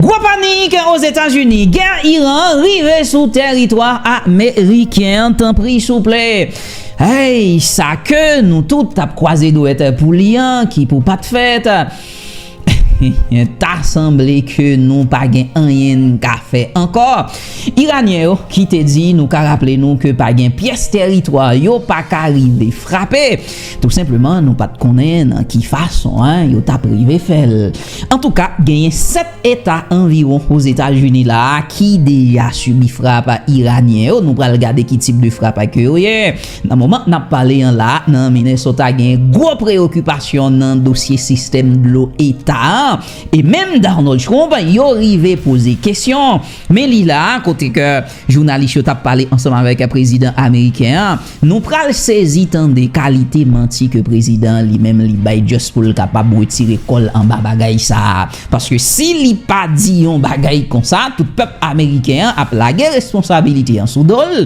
Gwo panik Ozetazini, gè Iran rive sou tèritwa ameriken tanpri souple ayy sa ke nou tout tap kwaze dwèt pou li an ki pou pat fèt ta sanble ke nou pa gen anyen n ka fè ankò Iranyen yo ki te di nou ka raple nou ke pa gen pyès tèritwa yo pa ka rive frape Tou senpleman nou pa t konnen nan ki fason yo t ap rive fè l. Antouka, genyen 7 eta anviwon Ozetazini la a ki deja sibi frap Iranyen yo. Nou pral gade ki tip de frap ke yo ye. Nan moman n ap pale an la, nan Minnesota genyen gwo preyokipasyon nan dosye sistèm dlo eta a. E menm Donald Trump, yo rive poze kesyon men li la a kote ke jounalis yo t ap pale ansanm avèk prezidan ameriken an. Nou pral sezi tande kalite manti ke prezidan an li menm li bay just pou l kapab retire kò l anba bagay sa a. Paske si li pa di yon bagay konsa, tout pèp ameriken an ap lage responsabilite an sou do l.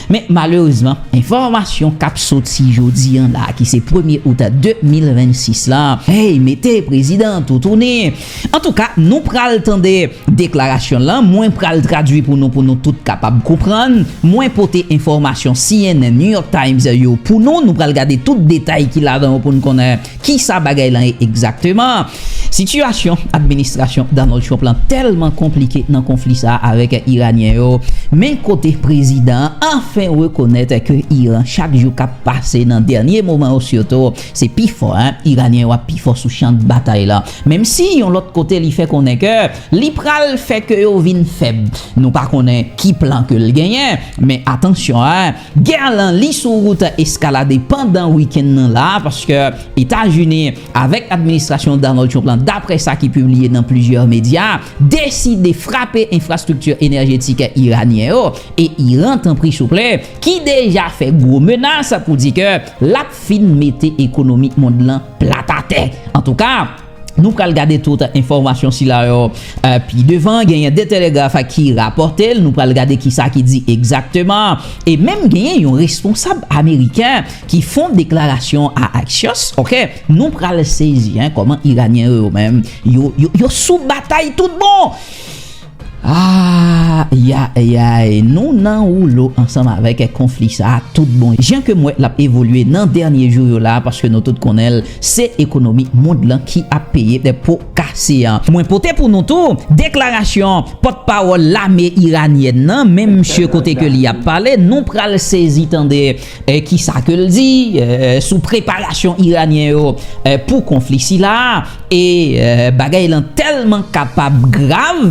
Men malerezman, enfòmasyon k ap soti jodi an la ki se premye out 2026 la, hey mete prezidan an toutouni. Antouka nou pral tande deklarasyon lan, mwen pral tradui pou nou pou nou tout kapab konprann, mwen pote enfòmasyon cnn, New York Times yo pou nou, nou pral gade tout detay ki ladan yo pou nou konnen kisa bagay lan ye egzakteman. Sitiyasyon administrasyon Donald Trump lan tèlman konplike nan konfli sa a avèk Iranyen yo, men kote prezidan an anfen rekonèt ke Iran chak jou k ap pase nan dènye moman yo sitou se pi fò, Iranyen yo ap pi fò sou chan batay lan. Menm si yon lòt kote li fè konnen ke li pral fè ke yo vin fèb. Nou pa konnen ki plan ke l genyen, men atansyon a, gè lan li sou wout eskalade pandan wikenn nan la, paske Etazini avèk administrasyon Donald Trump lan, daprè sa ki pibliye nan plizyè medya, deside frape enfrastrikti enèjetik iranyen yo, e Iran, tanpri souple, ki deja fè gwo menas pou di ke l ap fin mete ekonomi mond lan plat atè. Antouka, nou pral gade tout enfòmasyon sila yo pi devan. Genyen The Telegraph ki rapòte l, nou pral gade kisa ki di egzakteman. E menm genyen yon responsab ameriken ki fon deklarasyon a Axios, ok. Nou pral sezi kòman iranyen yo yo menm yo sou batay tout bon. Ayayayayy nou nan woulo ansanm avèk konfli sa tout bon jan ke m wè lap evolye nan dènye jou yo la paske nou tout konnen l se ekonomi mond lan ki ap peye po kase an. Mwen pote pou nou tou deklarasyon pòt pawòl lame iranyèn nan menm msye kote ke li ap pale nou pral sezi tande. Ki sa ke l di sou preparasyon Iranyen yo pou konfli sila a? E bagay lan tèlman kapab grav,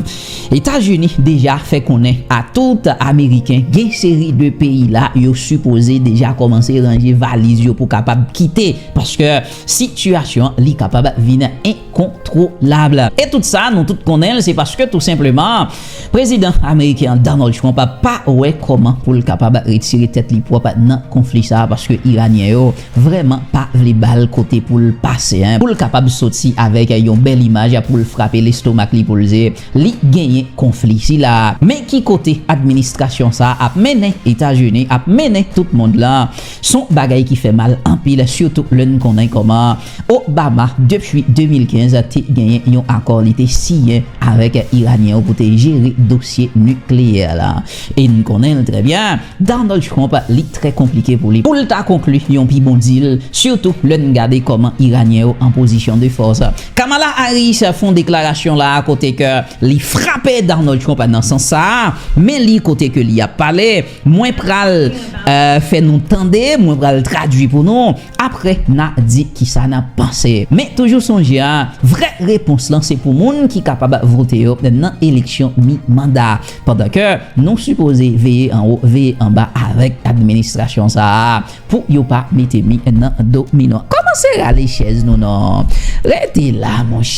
Etazini deja fè konnen a tout Ameriken gen seri de peyi la yo sipoze deja kòmanse ranje valiz yo pou kapab kite paske sitiyasyon li kapab vin kontwolab. E tout sa nou tout konnen l se paske tou senpleman prezidan ameriken an Donald Trump pa wè kòman pou l kapab retire tèt li pwòp nan konfli sa paske iranyen yo vrèman pa vle ba l kote pou l pase pou l kapab soti avèk yon bèl imaj pou l frape lestomak li pou l di li genyen konfli sila. Men ki kote administrasyon sa ap mennen Etazini, ap mennen tout mond lan s on bagay ki fè mal anpil sitou lè n konnen kòman Obama depi 2015 te genyen yon akò li te siyen avèk Iranyen yo pou te jere dosye nikleyè la. E n konnen l trè byen, Donald Trump li trè konplike pou li pou l ta konkli yon pi bon dil, sitou lè n gade kòman Iranyen yo an pozisyon de fòs. Kamala Harris fon deklarasyon la a kote ke li frape Donald Trump nan sans sa a, men li kote ke li ap pale, mwen pral fè nou tande, mwen pral tradui pou nou, Aprè na di kisa na panse. Men toujou sonje a, vrè repons lan se pou moun ki kapab vote yo nan eleksyon mi manda. Pandan ke nou sipoze veye anwo veye anba avèk administrasyon sa a pou yo pa mete mi nan do mi non. Kòmanse rale chèz nou non. Rete la monchè.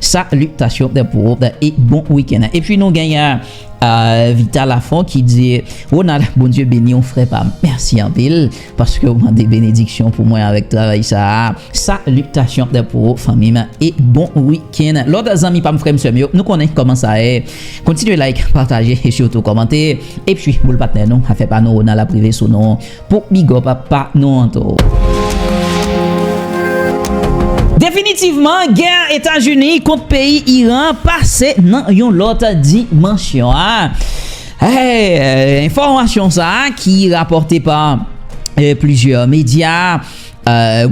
Salitasyon pou ou e bon weekend. Epi nou genyen Vita Lafon ki di Ronald Bondye beniw frè pam mèsi anpil paskew mande benediksyon pou mwen avèk travay sa a salitasyon pou ou fanmim e bon weekend lòt zanmi pam frèm sèm yo nou konnen kòman sa ye kontinye like pataje e sitou kòmante epi boul patnè nou afè pa nou Ronald ap rive sou nou Pou big up a pa nou anto. Definitivman gè etazini kont peyi iran pase nan yon lòt dimansyon enfòmasyon sa ki rapòte pa plizyè medya.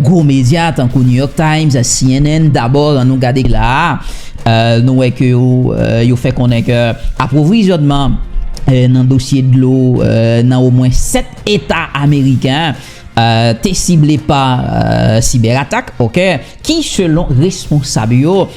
Gwo medya tankou New York Times, cnn, dabò an nou gade la a, nou wè ke yo fè konnen ke apwovizyònman nan dosye dlo nan omwen 7 eta ameriken te sible pa sibèratak, ok, ki selon responsab yo.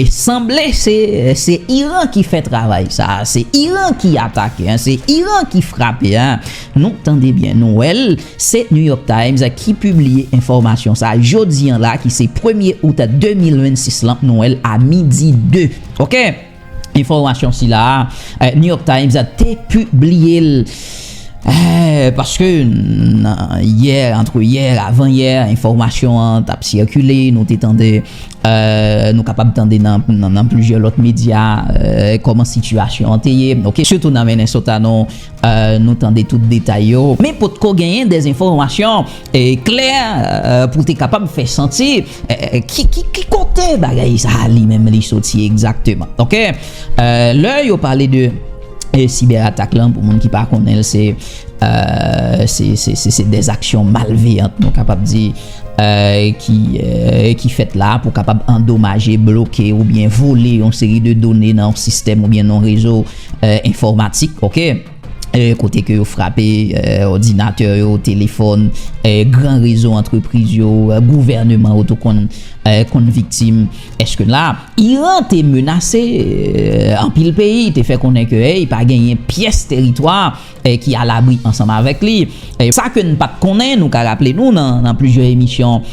Sanble se se Iran ki fè travay sa a, se Iran ki atake an, se Iran ki frape an. Nou tande byen, nou wè l, se New York Times ki pibliye enfòmasyon sa a jodi an la ki se premye out 2026 lan, nou wè l a midi 2 ok. Enfòmasyon sila a New York Times te pibliye l paske nan yè, antre yè, avan yè enfòmasyon an t ap sikile, nou te tande Nou kapab tande nan plizyè lòt medya kòman sitiyasyon an te ye, ok, sitou nan Menen Sotano, nou tande tout detay yo. Men potko genyen de enfòmasyon klè pou te kapab fè santi ki kote bagay sa a li menm li soti egzakteman, ok. Lè yo pale de sibèratak lan, pou moun ki pa konnen l, se de zaksyon malveyant nou kapab di. ki fèt la pou kapab andomaje, bloke oubyen vole yon seri de done nan yon sistèm oubyen nan yon rezo enfòmatik, kote ke yo frape òdinatè yo, telefòn, gran rezo antrepriz yo, gouvèneman yo tou konn viktim. Eske la, Iran te menase anpil peyi, te fè konnen ke pa genyen pyès teritwa, ki a labri ansanm avèk li. Sa ke n pat konnen, nou ka raple nou nan plizyè emisyon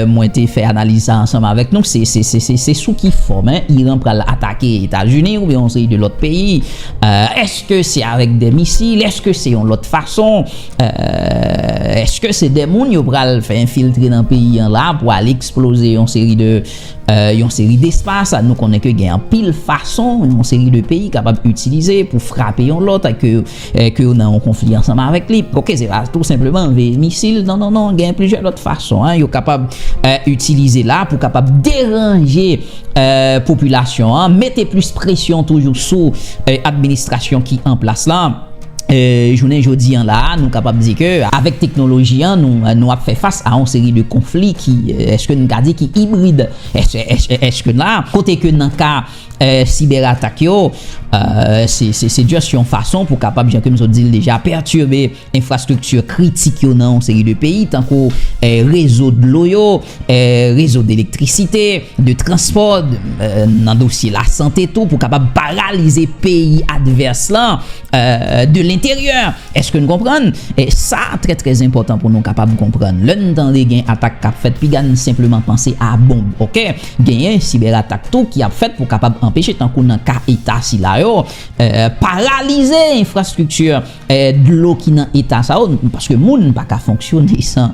mwen te fè analiz sa ansanm avèk nou, se sou ki fòm Iran pral atake Etazini oubyen yon seri de lòt peyi. Eske se avèk de misil, eske se yon lòt fason, eske se de moun yo pral fè enfiltre nan peyi an la pou al eksploze yon seri de. Yon seri despas, nou konnen ke gen anpil fason yon seri de peyi kapab itilize pou frape yon lòt ke yo nan yon konfli ansanm avèk li. Ok, se pa tou senpleman anveye misil, non, non, non, gen plizyè lòt fason yo kapab itilize la pou kapab deranje popilasyon an, mete plis presyon toujou sou administrasyon ki an plas la. Jounen jodi an la a, nou kapab di ke avèk teknoloji an, nou ap fè fas a yon seri de konfli ki, èske nou ka di ki ibrid? Èske la a, kote ke nan ka sibèratak yo, se just yon fason pou kapab, jan ke m sot di l deja, pètibe enfrastrikti kritik yo nan yon seri de peyi, tankou rezo dlo yo, rezo d'elektrisite, de transpò, nan dosye lasante tou pou kapab paralize peyi advès lan de lenteryè. Eske n konprann? Sa trè trè enpòtan pou nou kapab konprann. Lè n tande gen atak k ap fèt, piga n senpleman panse a bonb, ok? Genyen sibèratak tou ki ap fèt pou kapab anpeche, tankou nan ka eta sila yo, paralize enfrastrikti. Dlo ki nan eta sa yo, paske moun pa ka fonksyone san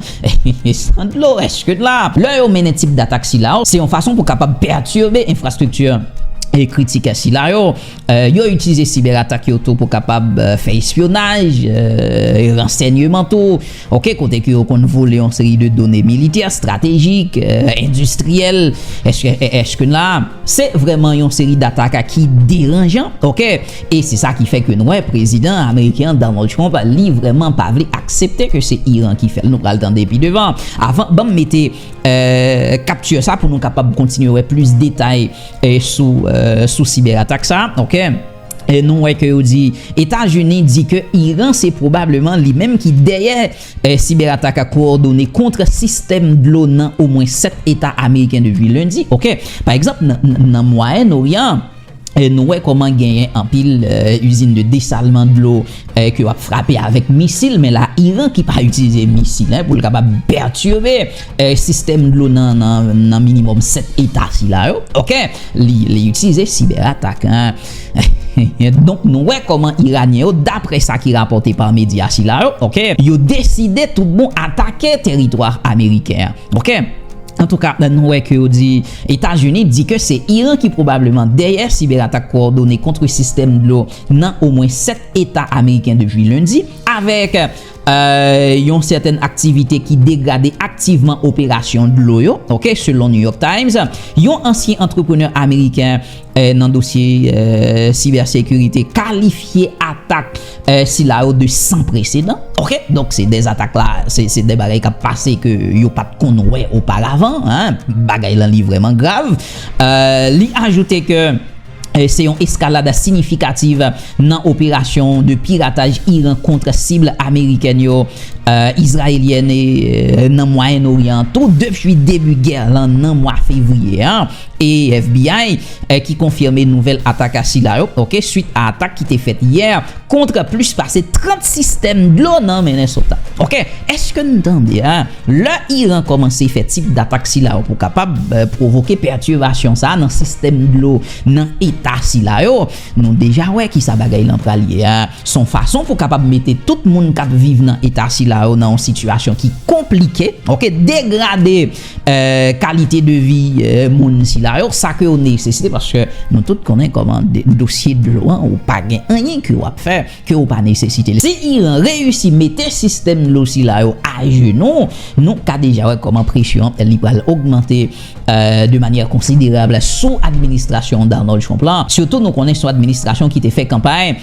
dlo, eske la. Lè yo mennen tip datak sila yo, se yon fason pou kapab pètibe enfrastrikti kritik sila yo. Yo itilize sibèratak yo tou pou kapab fè espyonaj, ransènyeman tou. Ok kote ke yo konn vole yon seri de done militè, stratejik, endistriyèl eskn la. Se vrèman yon seri dataka ki deranjan ok e se sa ki fè ke n wè prezidan ameriken an Donald Trump li vrèman pa vle aksepte ke se Iran ki fèl nou pral tande pi devan avan banm mete capture sa pou nou kapab kontinye wè plis detay sou sou sibèratak sa ok. Nou wè ke yo di Etazini di ke Iran se pwobableman li menm ki dèyè sibè atak ak kowòdone kont sistèm dlo nan omwen 7 eta ameriken depi lendi. Ok. Pa egzanp nan Mwayen Oryan nou wè kòman genyen anpil izin de desalman dlo ke yo ap frape avèk misil men la Iran ki pa itilize misil pou l kapab pètire sistèm dlo nan nan minimòm 7 eta sila yo ok li itilize sibè atak donk nou wè kòman iranyen yo daprè sa ki rapòte pa medya sila yo ok yo deside tout bon atake teritwa ameriken an ok antouka nou wè ke yo di etazini di ke se iran ki pwobableman dèyè sibè atak kowòdone kontre sistèm dlo nan omwen 7 eta ameriken depi lendi avèk yon sèten aktivite ki degrade aktivman operasyon dlo yo, ok, selon New York Times, yon ansyen antreprenè ameriken nan dosye sibèsekirite kalifye atak sila yo de san presedan, ok, donk se de atak la, se de bagay k ap pase ke yo pa t konn wè oparavan, bagay lan li vrèman grav, li ajoute ke. se yon eskalad sinyifikativ nan operasyon de pirataj Iran kont sib amerikèn yo, izrayelyèn e nan Mwayen Oryan tou depi debi gè lan nan mwa fevriye a, e FBI ki konfime nouvèl atak sila yo swit a atak ki te fèt yè kont plis pase 30 sistèm dlo nan Minnesota. Èske n tande? Lè Iran kòmanse fè tip datak sila yo pou kapab pwovoke pètivasyon sa nan sistèm dlo nan eta sila yo, nou deja wè kisa bagay lan pral ye a, son fason pou kapab mete tout moun kap viv nan eta sila yo nan yon sitiyasyon ki konplike, ok, degrade kalite de vi moun sila yo, sa ke yo nesesite paske nou tout konnen kòman dosye dlo an ou pa gen anyen ke wap fè. ke ou pa nesesite l. Si Iran reyisi mete sistèm dlo sila yo ajenou, nou ka deja wè kòman presyon li pral ogmante de manyè konsiderab sou administrasyon Donald Trump la, sitou nou konnen se yon administrasyon ki te fè kanpay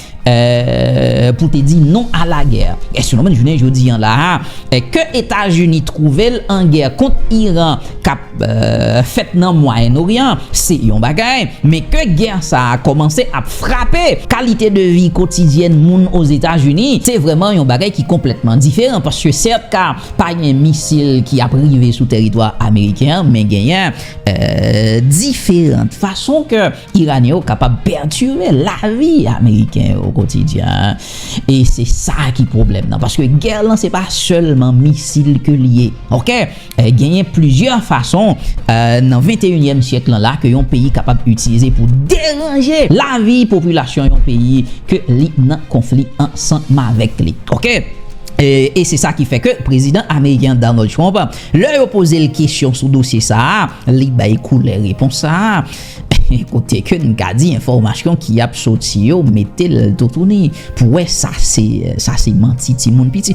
pou te di non a lagè. Èske nou menm jounen jodi an la a, ke Etazini twouve l an gè kont Iran, k ap. fèt nan Mwayen Oryan an se yon bagay, men ke gè sa a kòmanse ap frape kalite de vi kotidyèn moun Ozetazini, se vrèman yon bagay ki konplètman diferan paske sèt ka pa gen misil ki ap rive sou tèritwa ameriken an, men genyen diferant fason ke Iranyen yo kapab pètire lavi ameriken yo okotidyen e se sa ki pwoblèm nan paske gè lan se pa sèlman misil ke li ye ok. Genyen plizyè fason nan venteyinyèm syèk lan la ke yon peyi kapab itilize pou deranje lavi popilasyon yon peyi ke li nan konfli ansanmavèk li. Ok. E se sa ki fè ke prezidan ameriken an Donald Trump, lè yo poze l kesyon sou dosye sa a, li bay koulè repons sa a, kote ke n ka di enfòmasyon ki ap soti yo mete l toutouni pou wè sa se manti timoun piti.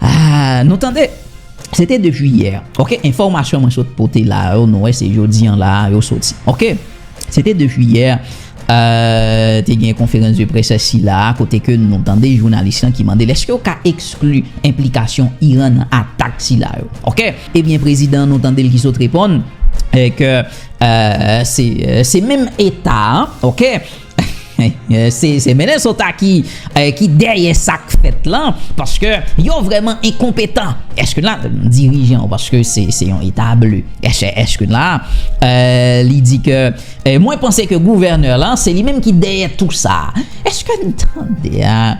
Aah nou tande! Se te 2 jiyè ok enfòmasyon mwen sot pote la yo nou wè se jodi an la yo soti ok se te 2 jiyè te gen konferans de près sila kote ke nou tande jounalis lan ki mande lèske yo ka ekskli enplikasyon Iran nan atak sila yo ok ebyen prezidan nou tande l ki sot reponn ke se menm eta ok. Se Minnesota ki dèyè sa k fèt lan paske yo vrèman enkonpetan èske la dirijan ou paske se yon eta ble èske la li di ke mwen panse ke gouvènè lan se li menm ki dèyè tou sa èske n tande a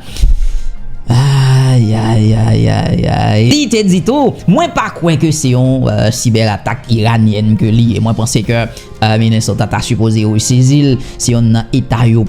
ayayayayay li te di tou mwen pa kwe ke se yon sibèratak iranyèn ke li mwen panse ke Ah Minnesota ta sipoze resezi l, se yonn nan eta yo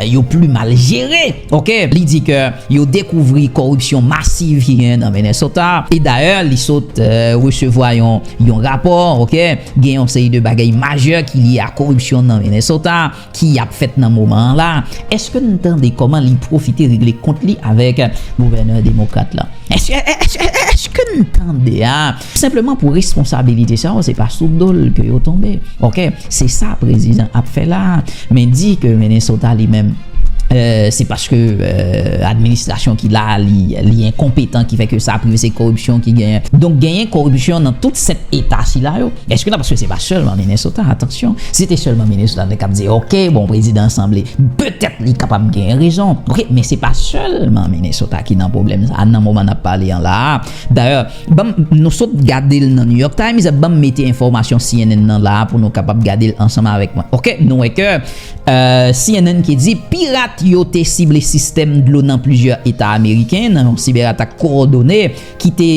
yo pli mal jere ok. Li di ke yo dekouvri koripsyon masiv ki genyen nan Minnesota e dayè li sot resevwa yon yon rapò ok. Gen yon seri de bagay majè ki lye a koripsyon nan Minnesota ki ap fèt nan moman an la. Eske n tande kòman li pwofite regle kont li avèk gouvènè demokrat la? Eske n tande a? Senpleman pou responsabilite sa yo se pa sou dol ke yo tonbe ok se sa prezidan ap fè la a men di ke Minnesota li menm se paske administrasyon ki la a li enkonpetan ki fè ke sa aprive se koripsyon ki genyen donk genyen koripsyon nan tout 7 eta sila yo eske nan paske se pa sèlman Minnesota atansyon si se te sèlman Minnesota nou te kab di ok bon prezidan sanble petèt li kapab genyen rezon ok men se pa sèlman Minnesota ki nan pwoblèm sa a nan moman nap pale an la a. Dayè, banm, nou sot gade l nan New York Times, banm mete enfòmasyon cnn nan la a pou nou kapab gade l ansanm avèk mwen. Ok, nou wè ke cnn ki di pirat yo te sible sistèm dlo nan plizyè eta ameriken nan yon sibèratak kowòdone ki te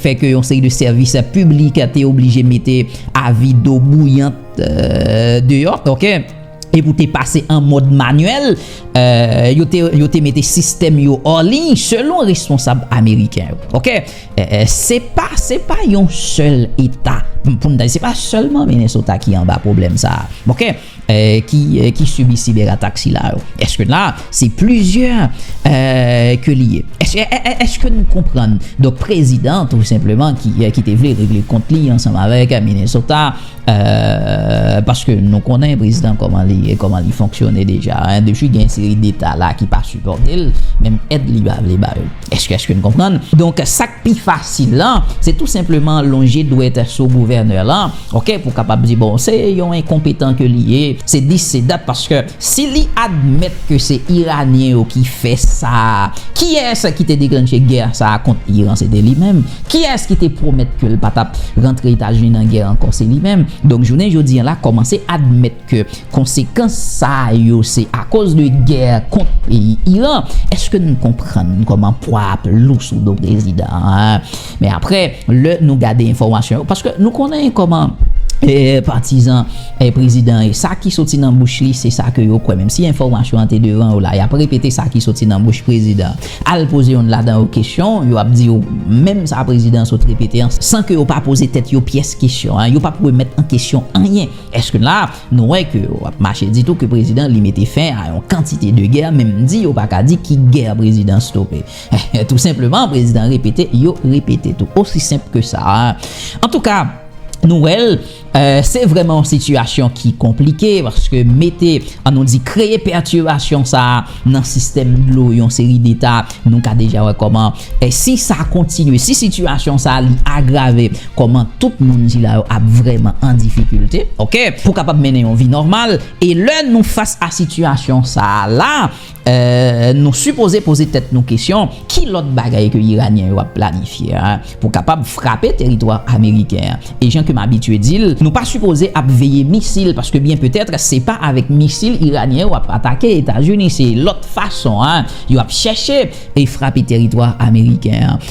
fè ke yon seri de sèvis piblik te oblije mete avi do bouyant deyò. Ok. e pou te pase an mòd manyèl, yo te mete sistèm yo anliy selon responsab ameriken yo. Ok. Se pa, se pa yon sèl eta, pou n ta di, se pa sèlman Minnesota ki anba pwoblèm sa a. Ok. Ki sibi siberatak sila yo. Eske la, se plizyè ke li ye. Eske nou konprann? Donk prezidan tou senpleman ki te vle regle kont li ansanm avèk Minnesota. Paske nou konnen prezidan koman li ye, koman li fonksyone deja. Depi gen yon seri deta la ki pa sipòte l, menm èd li pa vle ba yo. Èske n konprann? Donk, sa k pi fasil lan, se tou senpleman lonje dwèt sou gouvènè lan, ok, pou kapab di bon, se yon enkonpetan ke li ye, se dis, se dat, paske Si li admèt ke se Iranyen yo ki fè sa a, kiyès ki te deklanche gè sa a kont Iran? Se te li menm. Kiyès ki te pwomèt ke l pa t ap rantre Etazini nan gè ankò? Se li menm. Donk jounen jodi an la kòmanse admèt ke konsekans sa yo se akoz de gè kont peyi Iran. Èske n konprann kòman pwa a ap lou sou do prezidan an? Men apre, lè nou gade enfòmasyon yo, paske nou konnen kòman patizan prezidan ye, sa ki soti nan bouch li se sa ke yo kwè, menm si enfòmasyon an te devan yo la, y ap repete sa ki soti nan bouch prezidan an. Al poze youn ladan yo kesyon, yo ap di ou menm sa prezidan an sot repete an, san ke yo pa poze tèt yo pyès kesyon, yo p ap remèt an kesyon anyen. Èske la a, nou wè ke yo ap mache di tou ke prezidan li mete fen a yon kantite de gè, menm di yo pa ka di ki gè prezidan stope. Tou senpleman prezidan repete yo repete tou osi senp ke sa antouka nou wèl se vrèman yon sitiyasyon ki konplike paske mete an nou di kreye pètibasyon sa nan sistèm dlo yon seri deta nou ka deja wè kòman si sa kontinye si sitiyasyon sa li agrave kòman tout moun sila yo ap vrèman an difikilte ok pou kapab mennen yon vi nòmal e lè nou fas a sitiyasyon sa la. Nou sipoze poze tèt nou kesyon, ki lòt bagay ke Iranyen yo ap planifye pou kapab frape teritwa Ameriken an? E jan ke m abitye di l, nou pa sipoze ap veye misil, paske byen petètre se pa avèk misil Iranyen yo ap atake Etazini, se lòt fason yo ap chèche e frape teritwa Ameriken an.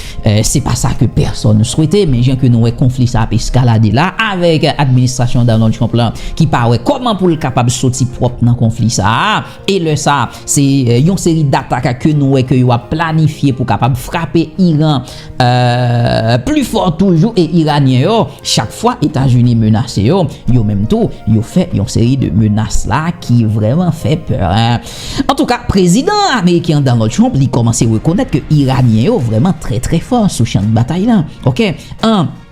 Se pa sa ke pèsòn swete, men jan ke nou wè konfli sa ap eskalade la, avèk administrasyon Donald Trump la ki pa wè kòman pou l kapab soti pwòp nan konfli sa a, E lè sa, se yon seri d'atak ke nou wè ke yo ap planifye pou kapab frape Iran pli fò toujou e Iranyen yo, chak fwa Etazini menase yo, yo menm tou, yo fè yon seri de menas la ki vrèman fè pè. An tou ka, Prezidan Ameriken an Donald Trump li kòmanse rekonèt ke Iranyen yo vrèman trè trè fò sou chan batay la. Ok. 1.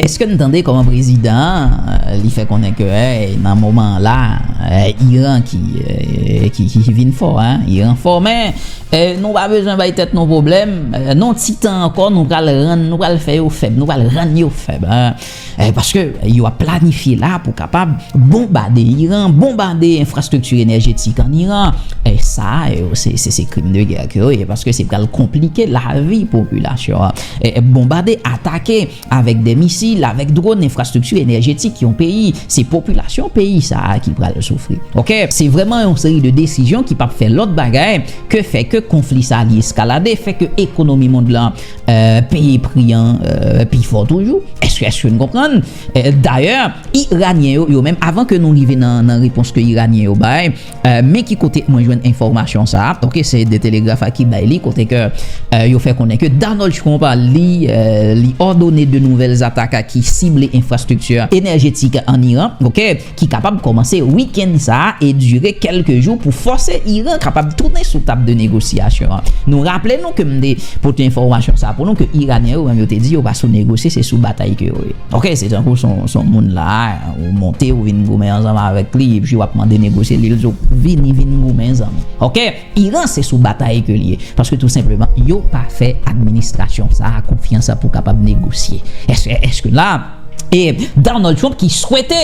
Eske n tande kòman prezidan an li fè konnen ke nan moman an la Iran ki vin fò a, Iran fò men nou pa bezwen bay tèt nou pwoblèm, nan ti tan ankò nou pral rann, nou pral fè yo fèb, nou pral rann yo fèb paske yo ap planifye la pou kapab bonbade Iran, bonbade enfrastrikti enèjetik an Iran, sa yo se krim de gè ke yo ye paske se pral konplike lavi popilasyon an. Bonbade, atake, avèk de misil, avèk dron, enfrastrikti enèjetik yon peyi. Se popilasyon peyi sa a ki pral soufri. Ok. Se vrèman yon seri de desizyon ki pap fè lòt bagay ke fè ke konfli sa a li eskalade, fè ke ekonomi mond lan peye pri an pi fò toujou. Èske n konprann? Dayè, Iranyen yo, yo menm, avan ke nou rive nan repons ke Iranyen yo bay, Men ki kote mwen jwenn enfòmasyon sa a, ok, se The Telegraph a ki bay li, kote ke yo fè konnen ke Donald Trump li li òdone 2 nouvèl zatak ki sible enfrastrikti enèjetik an Iran, ok, ki kapab kòmanse wikenn sa a e dire kèlke jou pou fòse Iran kapab tounen sou tab de negosyasyon an. Nou raple nou ke m te pote enfòmasyon sa a pou nou ke Iranyen yo menm yo te di yo pa sou negosye se sou batay ke yo ye. Ok, se tankou son son moun la a. Ou monte ou vin goumen ansanm avèk li epi wap mande negosye li lzo vini vin goumen zanmi ok iran se sou batay ke liye paske tou senpleman yo pa fè administrasyon sa konfyans pou kapab negosye eske eske la e Donald Trump ki swete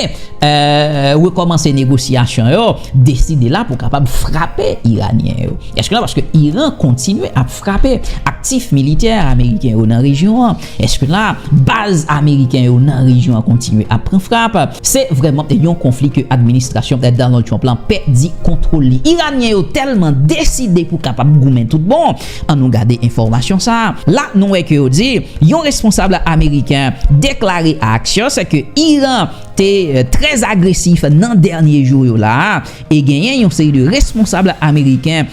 rekòmanse negosyasyon yo deside la pou kapab frape iranyen yo eske la paske iran kontinye ap frape aktif militè ameriken yo nan rejyon an. Eske la a, baz ameriken yo nan rejyon an kontinye ap pran frap? Se vrèman yon konfli ke administrasyon Donald Trump la pèdi kontwol li. Iranyen yo tèlman deside pou kapab goumen tout bon, an nou gade enfòmasyon sa a. La nou wè ke yo di, yon responsab ameriken deklare a Axios ke Iran te trè agresif nan dènye jou yo la a, e genyen yon seri de responsab ameriken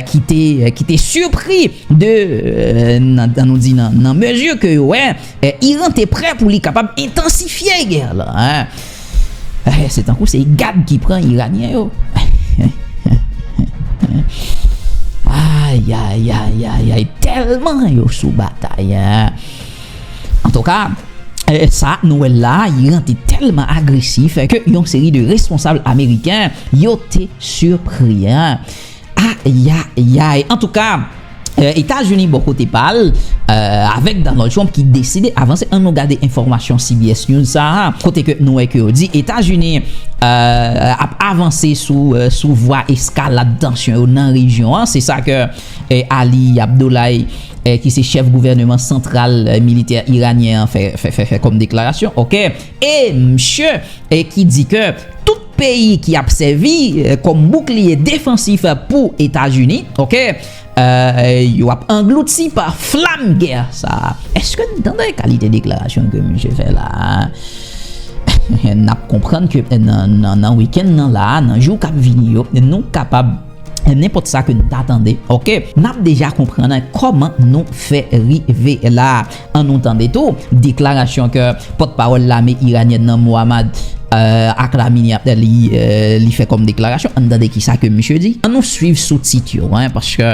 ki te ki te surpris de nan dan nou di nan nan mezi ke yo wè Iran te prè pou li kapab entansifye gè la se tankou se gad ki pran Iranyen yo ayayayayay tèlman yo sou batay Antouka, sa nou wè la, Iran te tèlman agresif ke yon seri de responsab ameriken yo te sipri. Ayayayy! Antouka, Etazini bò kote pa l, avèk Donald Trump ki deside avanse, annou gade enfòmasyon CBS News sa a, kote ke nou wè ke yo di Etazini ap avanse sou vwa eskalad tansyon yo nan rejyon an, se sa ke. Ali Abdollahi, ki se chèf gouvèneman santral militè iranyen an fè kòm deklarasyon ok e msye ki di ke tout peyi ki ap sèvi kòm boukliye defansif pou Etazini ok yo ap anglouti pa flam gè sa a. Eske n tande kalite deklarasyon ke msye fè la a? N ap konprann ke nan wikenn nan la a, nan jou k ap vini yo, nou kapab. nenpòt sa ke nou ta tande ok nap deja konprann kòman nou fè rive la an nou tande tou deklarasyon ke pòt pawòl lame iranyèn nan Mohammad Akhlamini ap li fè kòm deklarasyon an nou tande kisa ke misye di an nou swiv sou tit yo paske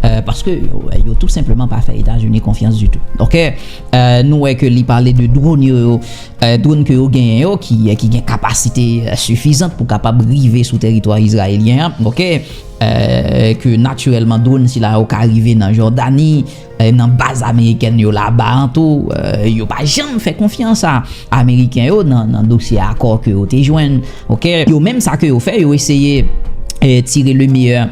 Euh, paske euh, yo tout senpleman pa fè Etazini konfyans di tou. Ok, euh, nou wè ke li pale de drone yo yo, drone ke yo genyen yo ki gen kapasite sifizant pou kapab rive sou teritwa Izrayelyen an. Ok, ke natirèlman drone sila yo ka rive nan Jordani, nan baz Ameriken yo la ba an tou, yo pa janm fè konfyans a Ameriken yo nan dosye akò ke yo te jwenn. Ok, yo menm sa ke yo fè, yo eseye tire le meyè.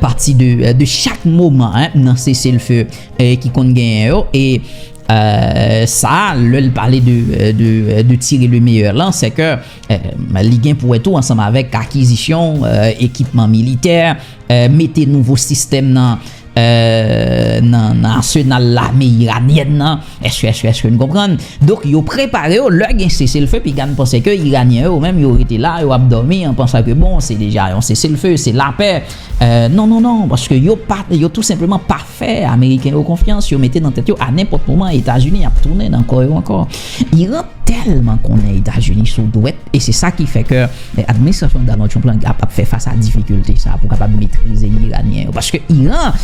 pati de chak moman nan sese l few ki konn genyen yo e sa lè l pale de tire le meyè lan se ke li gen pou wè tou ansanm avèk akizisyon ekipman militè mete nouvo sistèm nan nan asenal lame iranienne nan Èske èske èske n konprann? Donk yo prepare yo lè gen seselfe piga n panse ke Iranyen yo menm yo rete la yo ap dòmi an pansa ke bon se deja yon seselfe se lapè non non non paske yo pa yo tou senpleman pa fè ameriken yo konfyans yo mete nan tèt yo a nenpòt moman Etazini ap tounen nan kò yo ankò Iran tèlman konnen Etazini sou dwèt e se sa ki fè ke administrasyon Donald Trump lan ap fè fas a difikilte sa pou kapab metrize Iranyen yo paske Iran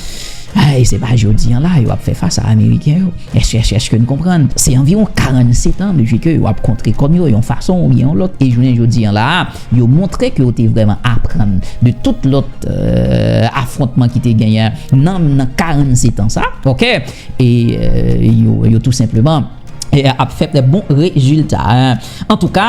Ay se pa jodi an la yo ap fè fas a ameriken yo. Èske n konprann? Se anviwon 47 an depi ke yo ap kontre kò m yo yon fason oubyen yon lòt e jounen jodi an la a yo montre ke yo te vrèman aprann de tout lòt afwontman ki te genyen nan nan 47 an sa ok e yo tou senpleman ap fè trè bon rezilta. Antouka.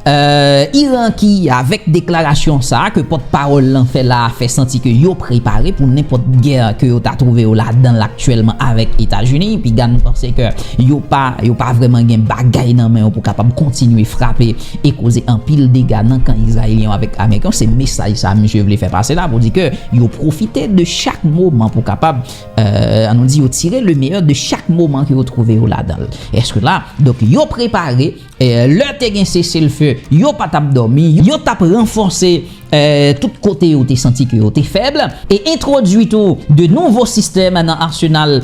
Iran ki, avèk deklarasyon sa a ke pòt pawòl lan fè la a fè santi ke yo prepare pou nenpòt gè ke yo ta twouve yo ladan l aktyèlman avèk Etazini, piga nou panse ke yo pa yo pa vrèman gen bagay nan men yo pou kapab kontinye frape e koze anpil dega nan kan Izrayelyen yo avèk Ameriken yo, se mesaj sa a misye vle fè pase la pou di ke yo pwofite de chak moman pou kapab an nou di yo tire le meyè de chak moman ke yo twouve yo ladan l. Eske la, donk yo prepare Lè te gen seselfe, yo pa t ap dòmi, yo t ap ranfòse tout kote yo te santi ke yo te fèb, e entwodui tou de nouvo sistèm nan arsenal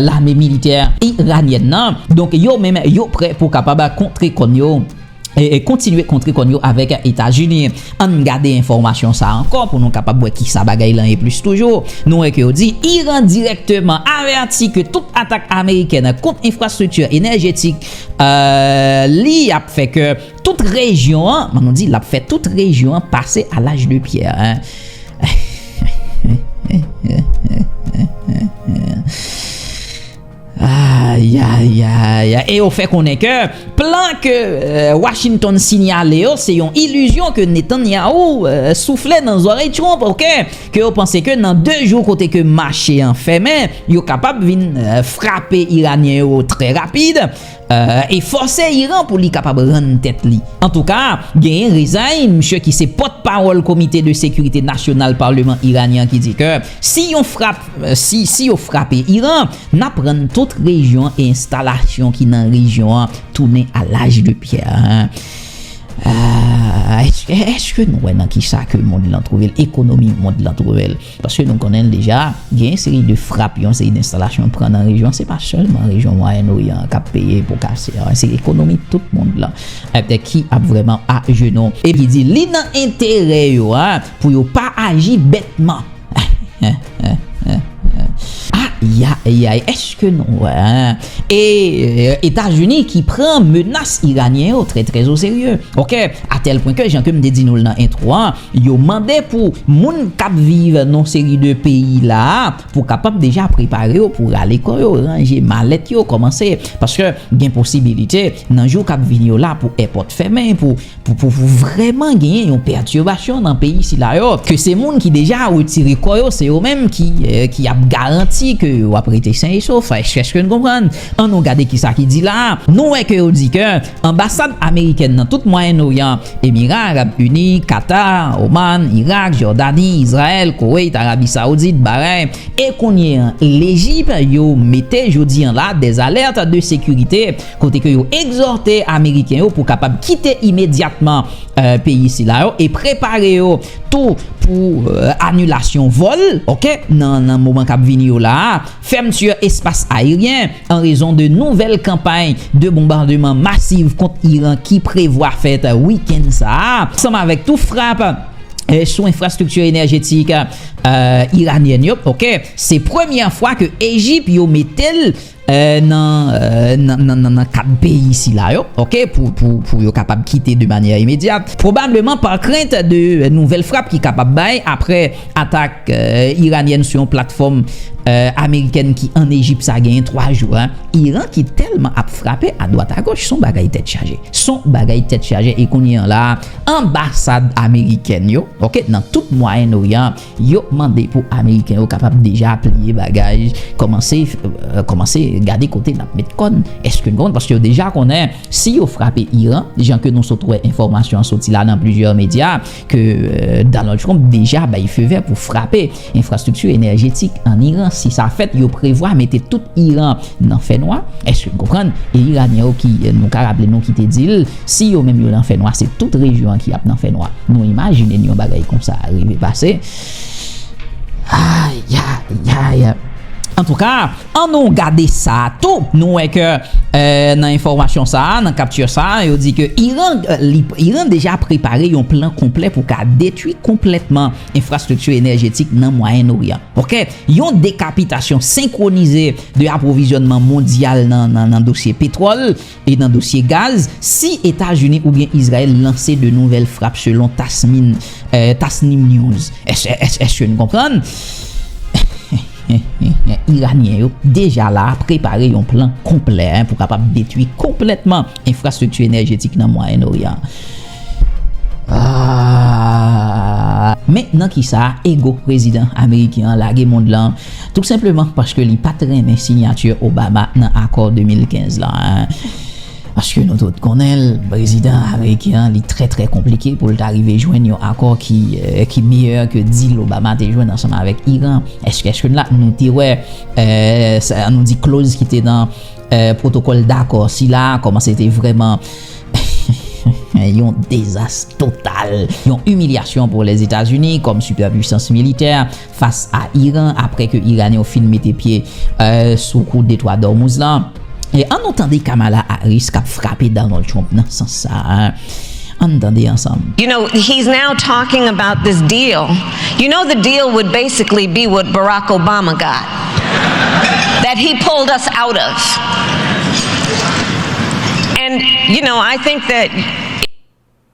lame militè iranyèn nan. Donk yo menm yo prè pou kapab kontre kòn yo, kontinye kontre kòn yo avèk Etazini. Ann gade enfòmasyon sa ankò pou nou kapab wè kisa bagay lan ye plis toujou. Nou wè ke yo di Iran dirèkteman avèti ke tout atak amerikèn kont enfrastrikti enèjetik Li ap fè kè tout rejyon an, man nou di, l ap fè tout rejyon an pase a laj de pyè. Ayayayayay! E yo fè konnen kè, plan kè Washington sinyale yo, se yon ilizyon kè Netanyahu soufle nan zòrèy Trump, ok? ke yo panse ke nan 2 jou kote ke mache an fèmen, yo kapab vin frape Iranyen yo trè rapid, e fòse Iran pou li kapab rann tèt li. Antouka, genyen Rezaei, misye ki se pòt pawòl Komite de Sekirite Nasyonal Parleman Iranyen an ki di ke si yon frap, si, si yo frape Iran, nap rann tout rejyon e enstalasyon ki nan rejyon an tounen a laj de pyè. Ah, est-ce que nou wè nan ki sa ke mond lan trouve l, ekonomi mond lan trouve l? Paske nou konnen l deja, gen yon seri de frap, yon seri d'installation pran nan rejyon an, se pa sèlman rejyon Mwayen Oryan an k'ap peye pou kase a, se ekonomi tout mond lan ki ap vrèman ajenou. E li di, li nan enterè yo a pou yo pa aji bètman. Ayayayay eske nou wè e etazini ki pran menas iranyen yo trè trè oserye ok atèl pwen ke jan kem te di nou nan entro an yo mande pou moun kap viv nan seri de peyi la pou kapab deja prepare yo pou rale kò yo ranje malèt yo kòmanse paske gen posibilite nan jou kap vini yo la pou èpòt fèmen pou Pou vrèman genyen yon pètibasyon nan peyi sila yo, ke se moun ki deja retire kò yo, se yo menm ki ap garanti ke yo ap rete sen e sof. Eske n konprann? An nou gade kisa ki di la a. Nou wè ke yo di ke anbasad amerikèn nan tout Mwayen Oryan, Emira Arab Ini, Katar, Oman, Irak, Jòdani, Izrayèl, Koweit, Arabi Saoudit, Bahrain, e kounye an Lejip, yo mete jodi an la dèzalèt de sekirite. kote ke yo egzòte Ameriken yo pou kapab kite imedyatman peyi sila yo e prepare yo tou pou anilasyon vòl ok nan moman kap vini yo la a, fèmti espas ayeryen an rezon de nouvèl kanpay de bonbardeman masiv kont Iran ki prevwa fèt wikenn sa a, ansanm avèk tou frap sou enfrastrikti enèjetik Iranyèn yo ok se premyè fwa ke Ejip yo mete l. nan kat peyi sila yo ok pou yo kapab kite de manyè imedyat pwobableman pa krent de nouvèl frap ki kapab bay apre atak iranyèn sou yon platfòm amerikèn ki an Ejip sa gen 3 jou a Iran ki tèlman ap frape a dwat a goch son bagay tèt chaje son bagay tèt chaje e kounye an la anbasad amerikèn yo ok nan tout mwayen oryan Yo mande pou ameriken yo kapab deja pliye bagay kòmanse kòmanse gade kote nap met kòn èske nou konn paske yo deja konnen si yo frape Iran jan ke nou sot wè enfòmasyon an soti la nan plizyè medya ke Donald Trump deja bay feu vert pou frape enfrastrikti enèjetik an Iran si sa fèt yo prevwa mete tout Iran nan fè nwa èske nou konprann e iranyen yo ki nou ka raple nou ki te dil Si yo menm yo nan fènwa se tout rejyon an ki ap nan fènwa nou imajine n yon bagay konsa rive pase ayayayay antouka an nou gade sa tou nou wè ke nan enfòmasyon sa nan kapti sa yo di ke iran iran deja prepare yon plan konplè pou ka detwi konplètman enfrastrikti enèjetik nan mwayen oryan ok yon dekapitasyon senkwonize de apwovizyònman mondyal nan dosye petwòl E nan dosye gaz, si Etazini oubyen Izrayèl lanse de nouvèl frap selon Tasmin, Tasnim News, èske nou konprann? Iranyen yo deja la a prepare yon plan konplè pou kapab detwi konplètman enfrastrikti enèjetik nan Mwayen Noryan an. Men nan kisa ego prezidan ameriken an lage mond lan Tout senpleman paske li pat renmen sinyati Obama nan akò 2015 la. Paske nou tout konnen l, prezidan ameriken an li trè trè konplike pou l ta rive jwenn yon akò ki miyè ke dil Obama te jwenn ansanm avèk Iran. Eske n la? Nou te wè, an nou di kloz ki te nan pwotokòl dakò sila a, kòman se te vrèman yon dezas total, yon imilyasyon pou Lèzetazini kòm sipèpwisans militè. fas a Iran apre ke Iranyen yo fin mete pye sou kou Detwa d'Ormuz la. An nou tande Kamala Harris kap frape Donald Trump nan sans sa a. An nou tande ansanm. You know, he's now talking about this deal. You know the deal would basically be what Barack Obama got. That he pulled us out of. And, you know, I think that.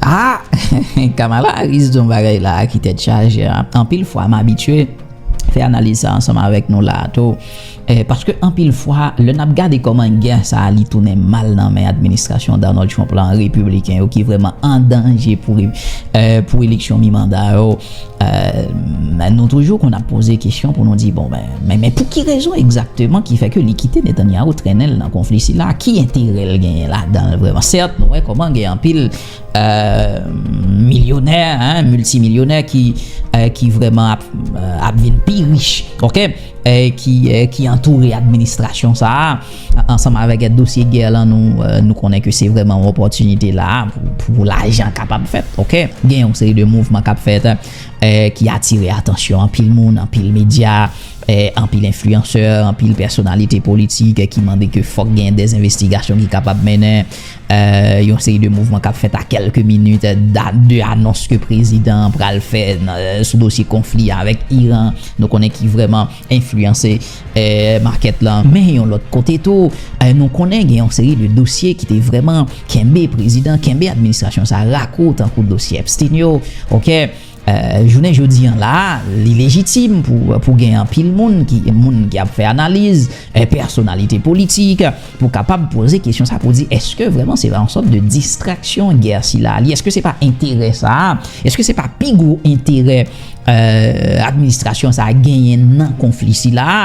Haa Kamala Harris di yon bagay la a ki tèt chaje anpil fwa m abitye fè analiz sa ansanm avèk nou la a tou paske anpil fwa lè n ap gade kòman gè sa a li tounen mal nan men administrasyon Donald Trump la an repibliken yo ki vrèman an danje pou eleksyon mi manda yo Eeh nou toujou konn ap poze kesyon pou nou di bon men men pou ki rezon egzakteman ki fè ke li kite Netanyahu trennen l nan konfli sila a? Ki enterè l genyen ladan l vrèman? Sèt nou wè kòman gen anpil milyonè, milti milyonè ki vrèman ap vin pi rich ok ki antoure administrasyon sa a. Ansanm avèk dosye gè lan nou konnen ke se vrèman yon opòtinite la a pou lajan kapab fèt ok. Gen yon seri de mouvman kap fèt ki atire atansyon anpil moun, anpil medya, anpil enfliyansè, anpil pèsonalite politik ki mande ke fòk gen dè envestigasyon ki kapab mennen. Yon seri de mouvman kap fèt a kèlke minit de anons ke prezidan an pral fè sou dosye konfli avèk Iran nou konnen ki vrèman. enfliyanse makèt la. Men yon lòt kote tou, nou konnen gen yon seri de dosye ki te vrèman kenbe prezidan, kenbe administrasyon sa a rakou tankou dosye Epstein yo. Ok, jounen jodi an la a, li lejitim pou gen anpil moun ki moun ki ap fè analiz, pèsonalite politik, pou kapab poze kesyon sa a pou di èske vrèman se pa yon sòt de distraksyon gè sila a li? Èske se pa enterè sa a? Èske se pa pi gwo enterè? administrasyon sa a genyen nan konfli sila a.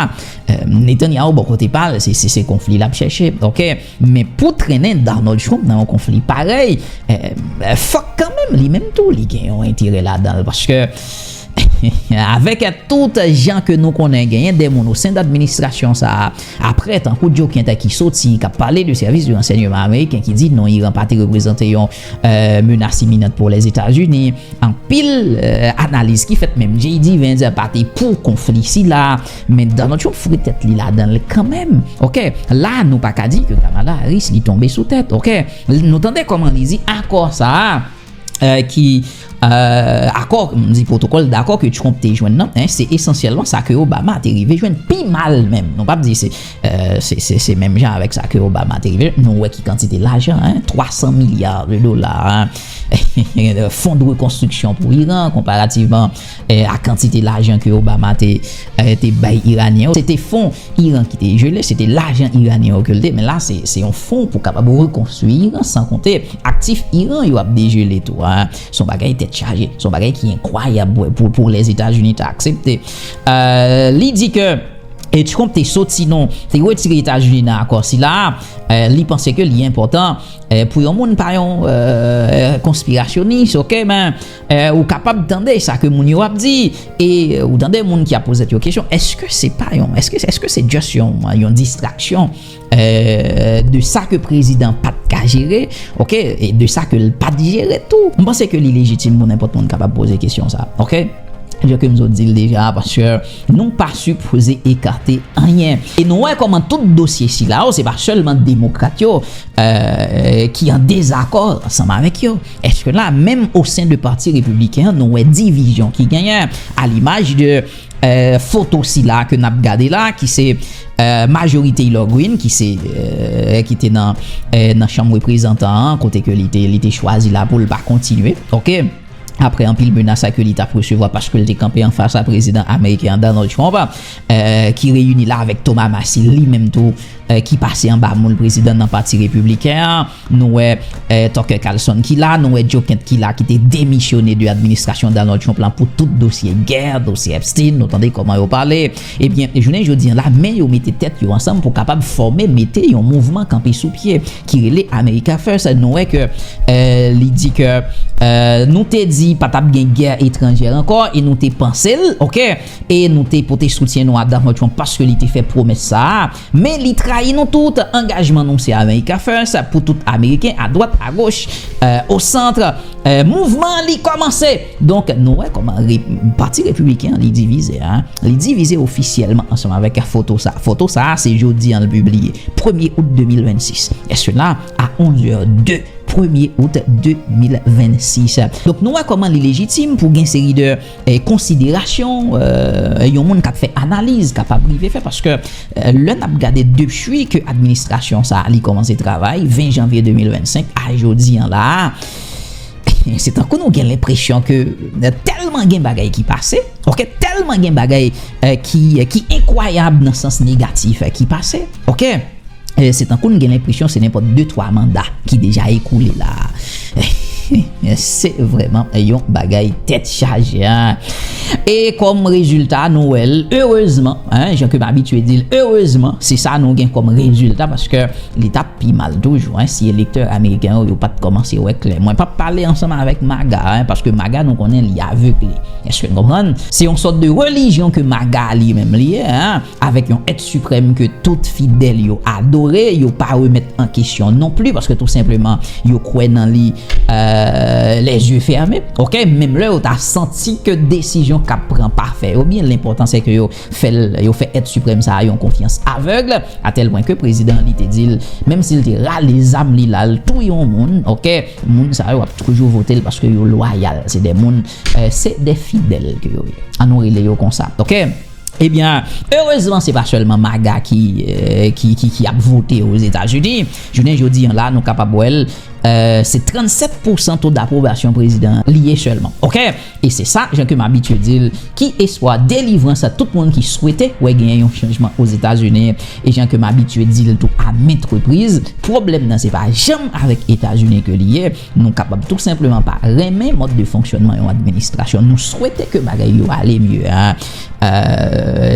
Netanyahu bò kote pa l, se konfli l ap chèche. Ok. Men pou trennen Donald Trump nan yon konfli parèy, fòk kanmenm li menm tou li gen yon enterè ladan l. Paske, avèk tout jan ke nou konnen genyen de moun osen dadministrasyon sa a, apre tankou Joe Kent ki soti, k ap pale de sèvis de ransènyeman ameriken ki di non Iran pa te reprezante yon Menas iminant pou Lèzetazini, anpil analiz ki fèt menm JD Vance pa te pou konfli sila, men Donald Trump foure tèt li ladan l kanmenm ok, la nou pa ka di ke Kamala Harris li tonbe sou tèt ok, nou tande kòman li di akò sa a ki. Akò, m di pwotokòl dakò ke Trump te jwenn nan, se esansyèlman sa ke Obama te rive jwenn, pi mal menm. Nou p ap di se menm jan avèk sa ke Obama te rive jwenn. Nou wè ki kantite lajan, 300 milya de dola, fon de rekonstriksyon pou Iran, konparativman ak kantite lajan ke Obama te bay Iranyen yo. Se te fon Iran ki te jele, se te lajan Iranyen yo ke l te, men la se se yon fon pou kapab rekonstwi Iran, san konte aktif Iran yo ap dejele tou a. Se yon bagay tèt chaje, se yon bagay ki enkwayab pou pou Lèzetazini ta aksepte. Li di ke e Trump te soti nan, te retire Etazini nan akò sila a, li panse ke li enpòtan pou yon moun pa yon konspirasyonis, ok, men. Ou kapab tande sa ke moun yo ap di e ou tande moun ki ap pozet yo kesyon, eske se pa yon, eske se just yon distraksyon de sa ke prezidan pat ka jere, ok, e de sa ke l pat jere tou. M panse ke li lejitim pou nenpòt moun kapab poze kesyon sa, ok. Jan ke m zo di l deja, paske nou pa sipoze ekate anyen. E nou wè kòman tout dosye sila yo, se pa sèlman demokrat yo ki an dezakò ansanm avèk yo. Eske la menm o sen de pati repibliken an nou wè divizyon ki genyen a limaj de foto sila ke nap gade la ki se majori Taylor Green ki se ki te nan chanm reprezantan an kote ke li te chwazi la pou l pa kontinye ok apre anpil menas a ke li tap resevwa paske l te kanpe an fas a prezidan ameriken an Donald Trump ki reyini la avèk Thomas Massie li menm tou ki pase anba moul prezidan nan pati repibliken an. Nou wè Tucker Carlson ki la, nou wè Joe Kent ki la ki te demisyone de administrasyon Donald Trump la pou tout dosye gè, dosye Epstein, nou tande kòman yo pale. Ebyen, jounen jodi an la, men yo mete tèt yo ansanm pou kapab fòme, mete yon mouvman kanpe sou pye ki rele America First. Nou wè ke li di ke nou te di pa t ap gen gè etranjè ankò e nou te panse l, ok, e nou te pote soutyen nou a Donald Trump paske li te fè pwomès sa a. Men li trayi nou tout, angajman nou se America First pou tout Ameriken a dwat a goch, o centre, mouvman an li kòmanse! Donk nou wè kòman pati Repibliken an li divize a, li divize ofisyèlman ansanm avèk foto sa. Foto sa a se jodi an l pibliye, premye out 2026, e sela a 11 zè 02, premye out 2026. Donk nou wè kòman li lejitim pou gen seri de. konsiderasyon yon moun kap fè analiz kapab rive fè paske lè nap gade depwi ke administrasyon sa li kòmanse travay 20 janvye 2025 a jodi an la a se tankou nou gen lenpresyon ke tèlman gen bagay ki pase ok tèlman gen bagay ki enkwayab nan sans negatif ki pase ok. Se tankou n gen lenpresyon se nenpòt de twa manda ki deja ekoule la a. Se vrèman yon bagay tèt chaje. E kòm rezilta nou wè l, erezman, jan ke m abitye di l, erezman se sa nou gen kòm rezilta paske li t ap pi mal toujou si elektè ameriken yo yo pa t kòmanse wè klè. Mwen p ap pale ansanm avèk maga paske maga nou konnen li avegle. Èske n konprann? Se yon sòt de relijyon ke maga li menm li ye. avèk yon èt siprèm ke tout fidèl yo adore, yo pa remèt an kesyon non pli, paske tou senpleman yo kwè nan li les yeux fermes, ok, menm lè yo ta santi ke desizyon k ap pran pa fè yo byen, lenpòtan se ke yo fè l, yo fè èt siprèm sa a yon konfyans avèg, a tèl pwen ke prezidan an li te di l, menm si l te rale zam li la l touye yon moun, ok, moun sa yo ap toujou vote l paske yo lwayal, se de moun, se de fidèl ke yo ye, an nou rele yo konsa, ok. Ebyen, erezman se pa sèlman MAGA ki ap vote Ozetazini. Jounen jodi an la, nou kapab wè l, se 37 pousan to dapwobasyon prezidan an li ye sèlman. Ok! E se sa, jan ke m abitye di l, ki espwa delivrans a tout moun ki swete wè genyen yon chanjman Ozetazini. E jan ke m abitye di l tou a ment repriz, pwoblèm nan se pa janm avèk Etazini ke li ye, Nou kapab tou senpleman pa renmen mòd de fonksyònman yon administrasyon. Nou swete ke bagay yo ale mye.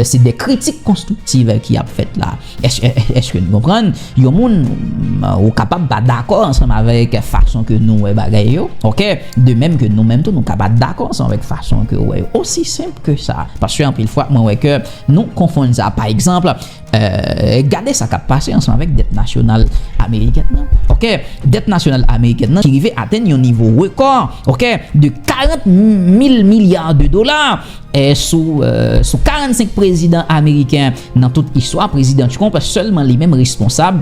Se de kritik konstriktiv ki ap fèt la. Eske nou konprann? Yon moun ou kapab pa dakò ansanm avèk fason ke nou wè bagay yo. Ok? De menm ke nou menm tou nou ka pa dakò ansanm avèk fason ke ou wè yo. Osi senp ke sa. Paske anpil fwa mwen wè ke nou konfonn sa. Pa egzanp. Gade sa k ap pase ansanm avèk dèt nasyonal amerikèn nan. Dèt nasyonal amerikèn nan ki rive atenn yon nivo rekò de 40 mil milya de dola sou 45 prezidan ameriken nan tout istwa, Prezidan Trump sèlman li menm responsab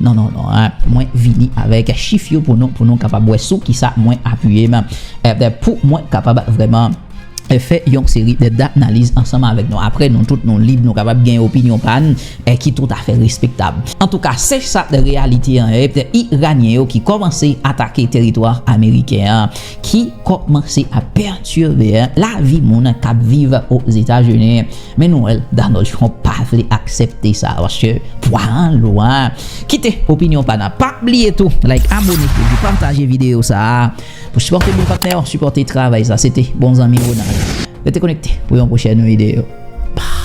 Non non non mwen vini avèk chif yo pou nou pou nou kapab wè sou kisa mwen apiye m pou mwen kapab vrèman fè yon seri de danaliz ansanm avèk nou aprè nou tout nou lib nou kapab gen opinyon pa n ki tout afè respektab. Antouka se sa reyalite an ye iranyen yo ki kòmanse atake teritwa ameriken an ki kòmanse ap pètire lavi moun kap viv ozetazini. Men nou wèl Donald Trump pa vle aksèpte sa paske pwaran lou a kite opinyon pa nan pa bliye tou like abone epi pataje video sa pou sipòte bon patnè yo sipòte travay sa se te bon zanmi Ronald rete konekte pou yon pwochèn video baww.